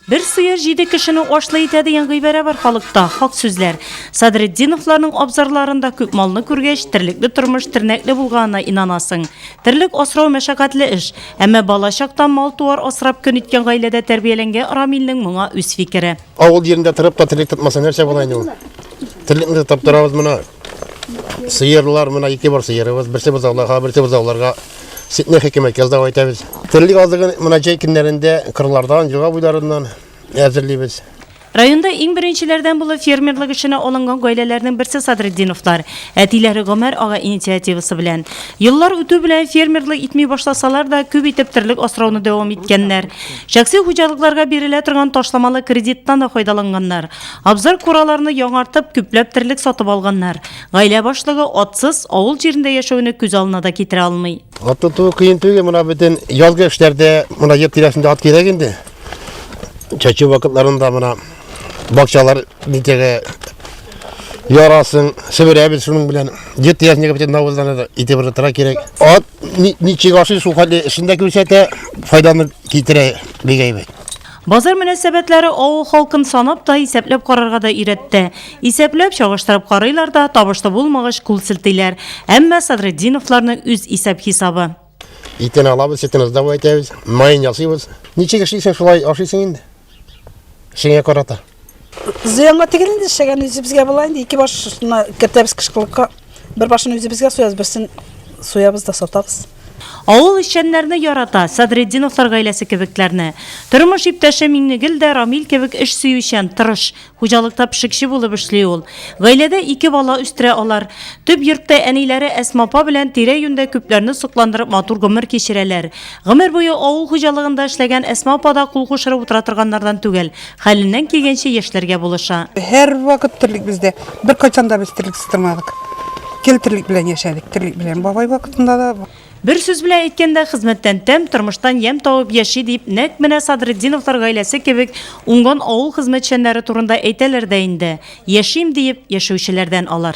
Бер сыер җиде кешене ашлый итә дигән гыйбарә бар халыкта, хак сүзләр. Садретдиновларның абзарларында күп малны күргәч, терлекле тормыш тернәкле булганына инанасың. Терлек асрау мәшәкатьле эш. Әмма бала чактан мал-туар асрап көн иткән гаиләдә тәрбияләнгән Рамилнең моңа үз фикере. Авыл җирендә торып та терлек тотмаса нәрсә була инде ул? Терлекне тотып торабыз, моны Сыерлар, менә ике бар сыерыбыз. Берсе бозауларга, берсе бозауларга ситне хикмәт яздау әйтәбез. Терлек азыгын менә җәй көннәрендә кырлардан, елга буйларыннан әзерлибез. Районда иң беренчеләрдән булып фермерлык эшенә алынган гаиләләрнең берсе Садретдиновлар. Әтиләре Гомәр ага инициативасы белән. Еллар үтү белән фермерлык итми башласалар да, күп итеп терлек асрауны дәвам иткәннәр. Шәхси хуҗалыкларга бирелә торган ташламалы кредиттан да файдаланганнар. Абзар-кураларны яңартып, күпләп терлек сатып алганнар. Гаилә башлыгы атсыз авыл җирендә яшәүне күз алына да китерә алмый. Ат тоту кыен түгел, менә бөтен язгы эшләрдә менә җир тирәсендә ат кирәк инде. Чәчү вакытларында менә бакчалар нитәгә ярасын себерәбез шуның белән. Җир тирәсендәге бөтен навозларны да итеп рытыра кирәк. Ат ничек ашый, шул хәтле эшендә күрсәтә, файданы китерә бик әйбәт. Базар мөнәсәбәтләре авыл халкын санап та, исәпләп карарга да өйрәтте. Исәпләп, чагыштырып карыйлар да, табышлы булмагач, кул селтиләр. Әмма Садретдиновларны үз исәп-хисабы. Итен алабыз, сөтен ыздавай итәбез, маен ясыйбыз. Ничек эшлисең, шулай ашыйсың инде. Эшеңә карата. Зыянга тигән инде эшләгән үзебезгә була инде ике баш шуна кертәбез кышкылыкка. Бер башын үзебезгә суябыз, берсен суябыз да сатабыз. Авыл эшчәннәрне ярата, Садретдиновлар гаиләсе кебекләрне. Тормыш иптәше Миңнегөл дә Рамил кебек эш сөючән, тырыш. Хуҗалыкта пешекче булып эшли ул. Гаиләдә ике бала үстерә алар. Төп йортта әниләре Әсма апа белән тирә-юньдә күпләрне сокландырып матур гомер кичерәләр. Гомер буе авыл хуҗалыгында эшләгән Әсма апа да кул кушырып утыра торганнардан түгел. Хәленнән килгәнчә яшьләргә булыша. Һәрвакыт терлек бездә. Беркайчан да без терлексез тормадык. Гел терлек белән яшәдек, терлек белән. Бабай вакытында да. Бер сүз белән әйткәндә, хезмәттән тәм, тормыштан ямь табып яши, дип, нәкъ менә Садретдиновлар гаиләсе кебек уңган авыл хезмәтчәннәре турында әйтәләр дә инде. Яшим диеп яшәүчеләрдән алар.